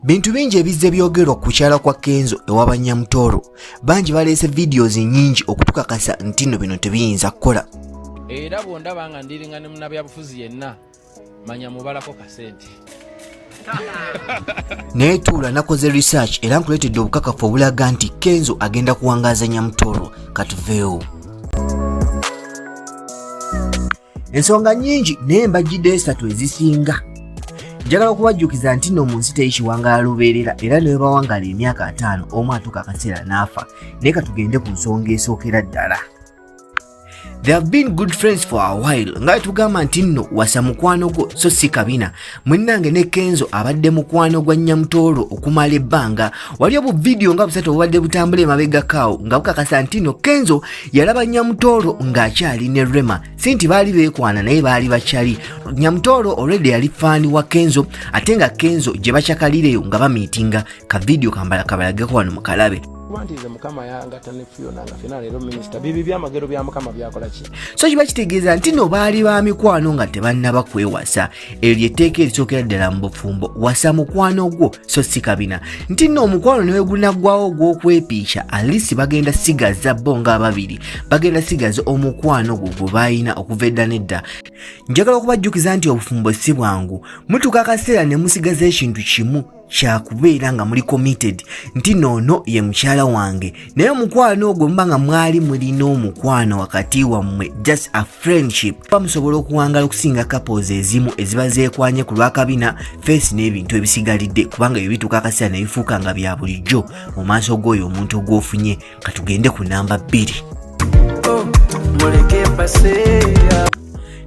bintu bingi ebizze byogerwa ku kyala kwa kenzo ewa banyamutoro bangi baleese videos nyingi okutukakasa nti no bino tebiyinza kukola era bwondaba nga ndiringa ne munabyabufuzi yenna manya mubalako kasente naye tuula nakoze research era nkuleetedde obukakafu obulaga nti kenzo agenda kuwangaaza nyamutoro katuveewo ensonga nyingi naye mbajjidde esatu ezisinga njagala okubajjukiza nti nno mu nsi teri kiwangaala lubeerera era ne webawangala emyaka ataano omu atuuka akaseera n'afa naye ka tugende ku nsonga esookera ddala They have been good friends for a while nga tugamba nti nno wasa mukwano gwo so si kabina munnange ne kenzo abadde mukwano gwa nyamutoolo okumala ebbanga wali obu vidiyo nga busatu obubadde butambula emabegakaawo nga bukakasa ntino kenzo yalaba nyamutoolo ng'akyali ne rema si nti baali beekwana naye baali bakyali nyamutoolo olwedde yali faani wa kenzo ate nga kenzo gye bakyakalireyo nga bamiitinga ka vidiyo kambala kabalageko wano mukalabe kuba nti nze mukama yangata ne fiyona nga fena leero minisita bibi byamagero bya mukama byakola ki so kiba kitegeeza nti no baali ba mikwano nga tebannaba kwewasa eryo lyetteeka erisookera ddala mu bufumbo wasa mukwano gwo so si kabina nti nno omukwano ne wegunaggwawo ogw'okwepiisha alisi bagenda sigaza bo nga ababiri bagenda sigaza omukwano gwo gwe baalina okuva edda nedda njagala okubajjukiza nti obufumbo si bwangu mutuuka akaseera ne musigaza ekintu kimu kyakubeera nga muli committed nti noono ye mukyala wange naye omukwano ogwo muba nga mwali mulina omukwano wakati wammwe just a friendship ba musobola okuwangala okusinga couples ezimu eziba zeekwanye ku lwakabina face n'ebintu ebisigalidde kubanga ebyo bituuka akaseera ne bifuuka nga bya bulijjo mu maaso g'oyo omuntu ogwofunye katugende ku namba bbiri oh,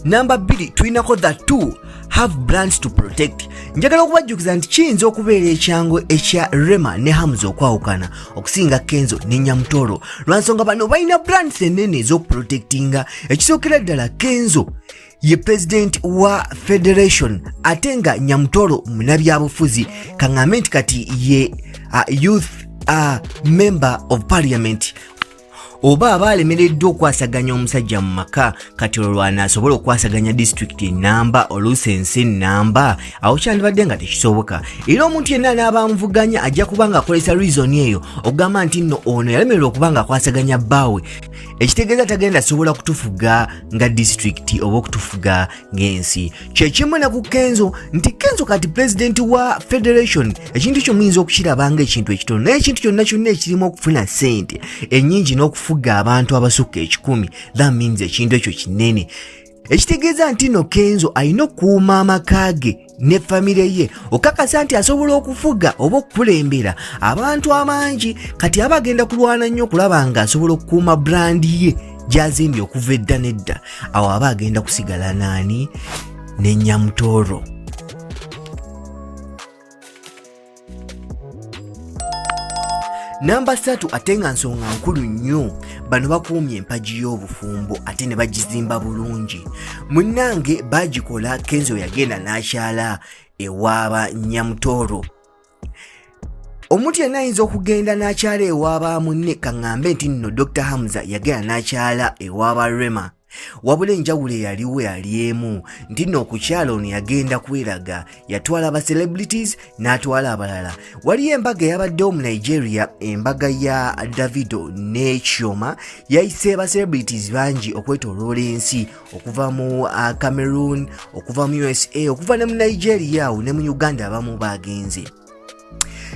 namba bbiri tulinako the two have brands to protect njagala okubajjukiza nti kiyinza okubeera ekyangu ekya rema ne hams okwawukana okusinga kenzo ne nyamutoro lwansonga bano balina brands enene ez'okuprotectinga ekisookera ddala kenzo ye pulezidenti wa federation ate nga nyamutoro munabyabufuzi kaŋambe nti kati ye uh, youth uh, member of parliament oba aba alemereddwa okwasaganya omusajja mu maka kati olwana asobola okwasaganya disitulikiti enamba oluusi ensi enamba awo kyandibadde nga tekisoboka era omuntu yenna anaaba amuvuganya ajja kuba ng'akozesa rizoni eyo okugamba nti nno ono yalemererwa okuba ng'akwasaganya bbaawe ekitegeeza tagenda sobola kutufuga nga disitulikiti oba okutufuga ng'ensi kyekimu ne ku kenzo nti kenzo kati pulezidenti wa federation ekintu kyo muyinza okukiraba nga ekintu ekitono naye ekintu kyonna kyonna ekirimu okufuna sente ennyingi n'okufuga abantu abasukka ekikumi that means ekintu ekyo kinene ekitegeeza nti no kenzo alina okuuma amaka ge ne famire ye okakasa nti asobola okufuga oba okukulembera abantu abangi kati aba agenda kulwana nnyo okulaba nga asobola okukuuma brandi ye gyazimbye okuva edda nedda awo aba agenda kusigala naani ne nyamutooro namba satu ate nga nsonga nkulu nnyo bano bakuumye empagi y'obufumbo ate ne bagizimba bulungi munnange bagikola kenzo yagenda n'akyala ewaaba nyamutooro omuntu yenna ayinza okugenda n'akyala ewaaba munne kaŋŋambe nti nno dr hamza yagenda n'akyala ewaaba rema wabula enjawulo eyaliwo yali emu nti nno okukyala ono yagenda kweraga yatwala aba celebrities n'atwala abalala waliyo embaga eyabaddewo mu nigeria embaga ya davido n'ekyoma yayise ba celebrities bangi okwetoloola ensi okuva mu uh, cameroon okuva mu usa okuva ne mu nigeria awo ne mu uganda abamu baagenze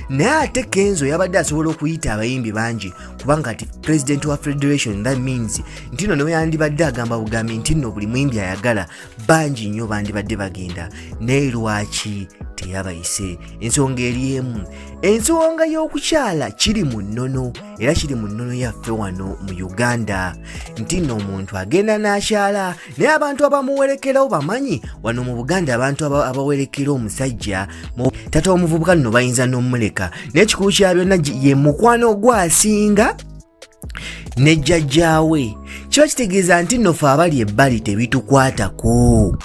naye ate kenzo yabadde asobola okuyita abayimbi bangi kubanga ati president wa federation that means ntino newe yandibadde agamba bugambi ntino buli muyimbi ayagala bangi nnyo bandibadde bagenda naye lwaki teyabayise ensonga eri emu ensonga y'okukyala kiri mu nnono era kiri mu nnono yaffe wano mu uganda ntino omuntu agenda n'akyala naye abantu abamuwerekerawo bamanyi wano mu buganda abantu abawerekera omusajja tata omuvubuka nno bayinza n'omuleka naye kikulu kya byonna ye mukwano ogwasinga ne jjajjaawe kiba kitegeeza nti nno fe abali ebbali tebitukwatako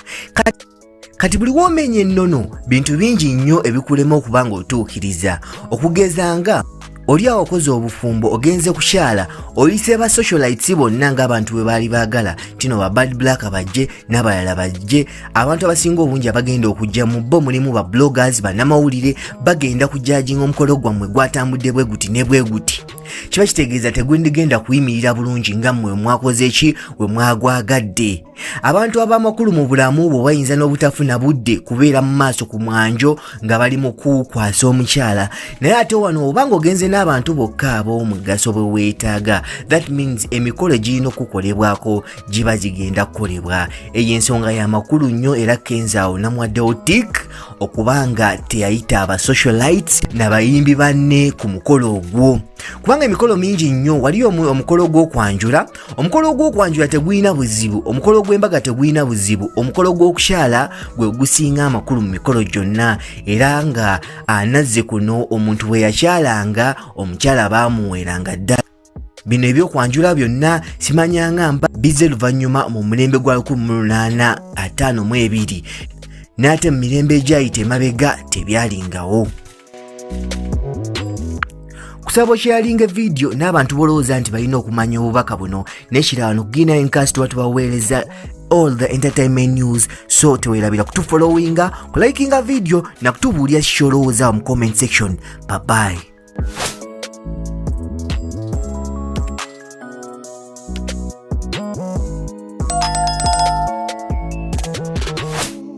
kati buli womenya ennono bintu bingi nnyo ebikulema okuba nga otuukiriza okugeza nga oli awo okoze obufumbo ogenze kukyala oyise ba socialites bonna ng'abantu bwe baali baagala tino ba bad black bajje n'abalala bajje abantu abasinga obungi abagenda okujja mu bo mulimu ba bloggers bannamawulire bagenda kujajinga omukolo gwammwe gwatambudde bwe guti ne bwe guti kiba kitegeeza tegwendigenda kuyimirira bulungi nga mmwe mwakoze ki we mwagwagadde abantu ab'amakulu mu bulamu bwo bayinza n'obutafuna budde kubeera mu maaso ku mwanjo nga bali mu kukwasa omukyala naye ate wano oba ng'ogenze n'abantu bokka ab'omugaso bwe weetaaga that means emikolo egirina okukolebwako giba gigenda kukolebwa eyo ensonga y'amakulu nnyo era kenzaawo namwaddewo tik okuba nga teyayita aba socialites nabayimbi banne ku mukolo ogwo kubanga emikolo mingi nnyo waliyo omukolo gw'okwanjula omukolo ogw'okwanjula tegulina buzibu omukolo gw'embaga tegulina buzibu omukolo gw'okukyala gwe gusinga amakulu mu mikolo gyonna era nga anazze kuno omuntu bwe yakyalanga omukyala baamuweeranga ddala bino ebyokwanjula byonna simanyanga mba bizze luvannyuma mu mulembe gwa 1852 n'ate mu mirembe egyayita emabega tebyalingawo kusaba okyalinga vidiyo n'abantu bolowooza nti balina okumanya obubaka buno nekirala no gina enkasi tuba tubaweereza all the entertainment news so tewerabira kutufollowinga kulayikinga vidiyo nakutubuulira kikyolowooza mu comment section babayi